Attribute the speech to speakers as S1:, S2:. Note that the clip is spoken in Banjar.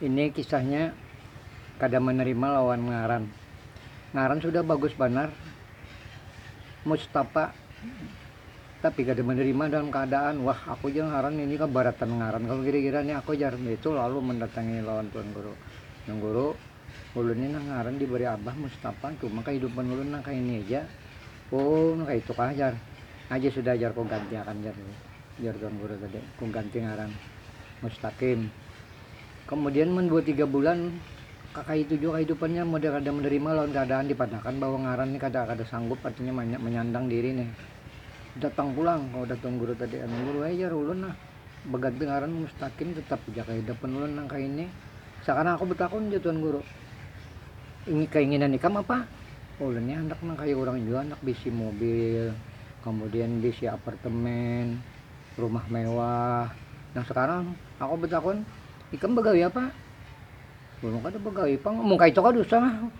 S1: Ini kisahnya kada menerima lawan ngaran. Ngaran sudah bagus banar Mustapa tapi kada menerima dalam keadaan wah aku ja ngaran ini keberatan ngaran kalu gira-gira ni aku jar, itu lalu mendatangi lawan tuan guru, tuan guru Ulun ni nah ngaran dibari abah Mustafa cuma kahidupan ulun nah kaini aja, oh nah kaitu kah jar, aja sudah jar ku ganti akan jar ku, jar tuan guru tadi ku ganti ngaran Mustaqim, kemudian mun dua tiga bulan kakaitu jua kahidupannya model kada menerima lawan keadaan dipadahakan bahwa ngaran ni kada kada sanggup artinya manyandang diri nih, datang pulang kawa dah tuan guru tadi, tuan guru ai jar ulun nah. Baganti ngaran Mustaqim tetap ja kaya dapan ulun nang kaya ini. Sakarang aku batakun ja Tuan Guru, ini kainginan ikam apa? Oh ulun ni handak nang kaya urang jua, handak bisi mobil, kamudian bisi apartemen, rumah mewah. Nah sakarang aku batakun, ikam bagawi apa? Ulun kada bagawi pang, mun kaytu kada usah lah.